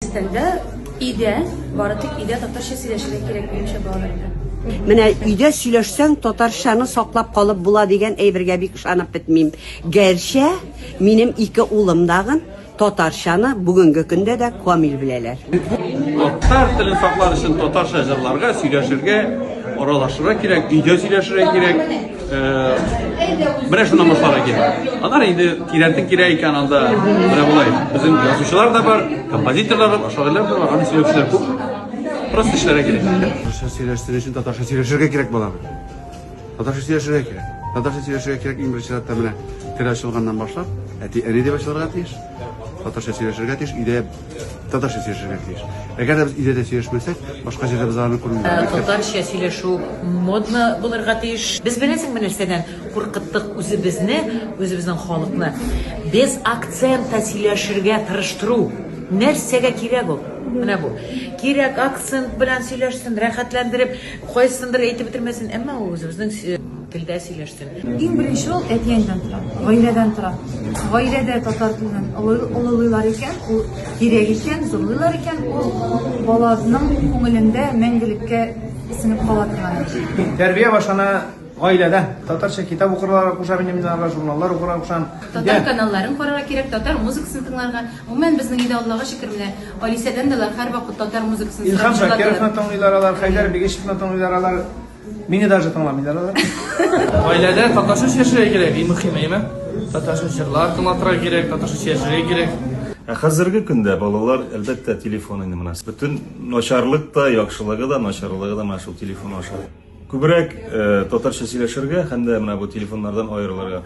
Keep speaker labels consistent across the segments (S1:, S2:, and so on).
S1: Өстәлдә өйдә, бары тик өйдә татарча сөйләшергә кирәк минемчә балаларга. Менә өйдә
S2: сөйләшсәң, татарчаны саклап калып була дигән әйбергә бик ышанып бетмим. Гәрчә минем ике улым дагын татарчаны бүгенге көндә дә камил беләләр. Татар
S3: телен саклар өчен татарча җырларга, сөйләшергә, аралашырга кирәк, өйдә сөйләшергә кирәк. Менә шуны намазлар икән. Алар инде тирәнтен кирәк икән анда. Менә болай. Безнең язучылар да бар, композиторлар да бар, шагыйрьләр дә бар, аны сөйләүчеләр күп. Просто эшләргә кирәк. Татарча сөйләштерү
S4: өчен татарча сөйләшергә кирәк балам. Татарча сөйләшергә кирәк. Татарча сөйләшергә кирәк иң беренче чиратта менә тел ачылганнан башлап, әти әни дип ачылырга тиеш. Татарча сөйләшергә тиеш. Өйдә Татарча сөйләшергә тиеш. Әгәр дә без өйдә дә сөйләшмәсәк, башка җирдә без аларны күрмибез. Татарча сөйләшү
S5: модно булырга тиеш. Без беләсеңме нәрсәдән куркыттык үзебезне, үзебезнең халыкны? Без акцентта сөйләшергә тырыштыру. Нәрсәгә кирәк ул? Менә бу. Кирәк акцент белән сөйләшсен, рәхәтләндереп, кайсындыр әйтеп бетермәсен, әмма ул үзебезнең Телдә сөйләштем. Иң беренче ул
S6: әти-әнидән тора, гаиләдән тора. Гаиләдә татар телен олылыйлар икән, ул кирәк икән, зурлыйлар икән, ул баланың күңелендә мәңгелеккә сеңеп кала торган. Тәрбия башлана
S7: гаиләдә татарча китап укырга куша минем минарга журналлар укырга кушам татар каналларын
S1: карарга кирәк татар музыкасын тыңларга гомумән безнең өйдә аллага шөкер менә алисәдән дә алар һәрвакыт татар музыкасын илһам шакировны
S7: тыңлыйлар алар хәйдәр бигишевны тыңлыйлар алар Мине даже тыңламыйлар алар. Гаиләдә
S8: татарча сөйләшергә кирәк, иң мөһиме, әйме? Татарча җырлар тыңлатырга кирәк, татарча сөйләшергә кирәк. Ә хәзерге
S9: көндә балалар, әлбәттә, телефон инде менә. Бөтен начарлык та, яхшылыгы да, начарлыгы да менә шул телефон аша. Күбрәк э, татарча сөйләшергә һәм дә менә бу телефоннардан аерылырга.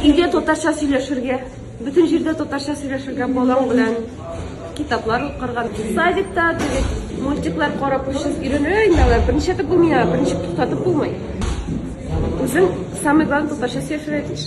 S9: Өйдә
S10: татарча сөйләшергә. Бөтен җирдә татарча сөйләшергә, балаң белән китаплар укырга, садикта мультиклар карап өчен өйрәнергә инде алар берничә дә булмый, берничә туктатып булмый. Үзең самый главный татарча сөйләшергә тиеш.